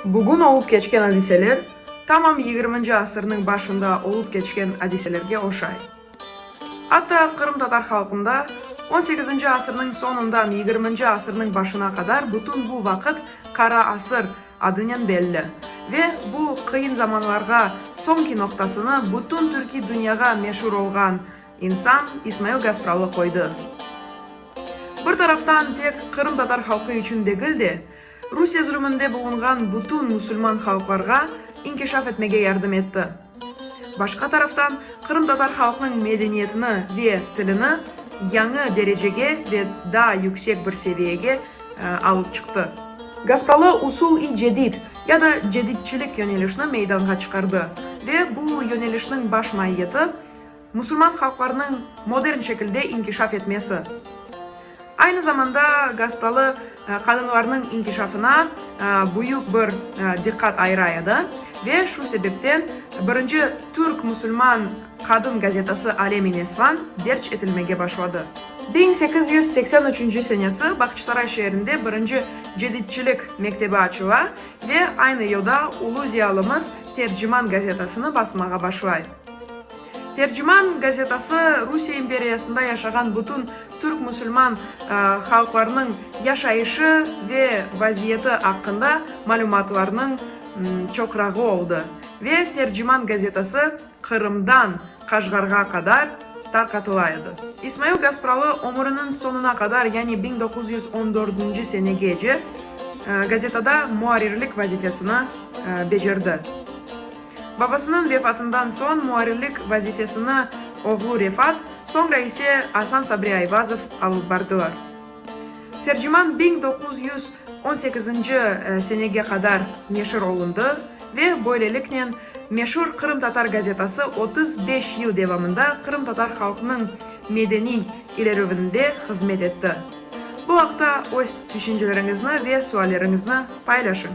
Bugün olıp keçken adiseler, tamam yigirminci asırnıñ başında olıp keçken adiselerge oşay. Atta qırımtatar halqında, on sekizinci asırnıñ soñundan yigirminci asırnıñ başına qadar bütün bu vaqıt Qara asır adınen belli ve bu qıyın zamanlarğa soñki noqtasını bütün türkiy dünyağa meşur olğan insan İsmail Gaspralı qoydı. Bir taraftan tek qırımtatar halqı içün degil de, Rusiye zulüminde bulunğan bütün musulman halqlarğa inkişaf etmege yardım etti. Başqa taraftan, qırımtatar halqnıñ medeniyetini ve tilini yañı derecege ve daa yüksek bir seviyege alıp çıqtı. Gaspalı usul-i cedid ya da cedidçilik yönelişni meydanğa çıqardı ve bu yönelişniñ baş maiyeti, Musulman halqlarnıñ modern şekilde inkişaf etmesi, aynı zamanda gaspralı qadınlarnıñ inkişafına büyük bir diqqat ayıra edi ve şu sebepten birinci türk musulman qadın gazetası Alem-i Nesvan derc etilmege başladı. Biñ sekiz yüz seksen üçünci senesi Bağçasaray şeerinde birinci Ceditçilik mektebi açıla ve aynı yılda ulu ziyalımız Terciman gazetasını basmağa başlay. Terciman gazetası Rusiye imperiyasında yaşağan bütün türk musulman halqlarınıñ yaşayışı ve vaziyeti aqqında malümatlarnıñ çoqrağı oldı ve Terciman gazetası Qırımdan Qaşğarğa qadar tarqatıla edi. İsmail Gaspralı ömüriniñ soñuna qadar, yani biñ doquz yüz on dördünci senegece gazetada muarrirlik vazifesini becerdi. Babasınıñ vefatından soñ muarrirlik vazifesini oğlu Refat, soñra ise Asan Sabri Ayvazov alıp bardılar. Terciman biñ doquz yüz on sekizinci senege qadar neşir olundı ve böyleliknen meşur Qırımtatar gazetası otuz beş yıl devamında qırımtatar halqnıñ medeniy ilerüvinde hızmet etti. Bu aqta öz tüşünceleriñizni ve sualleriñizni paylaşıñ.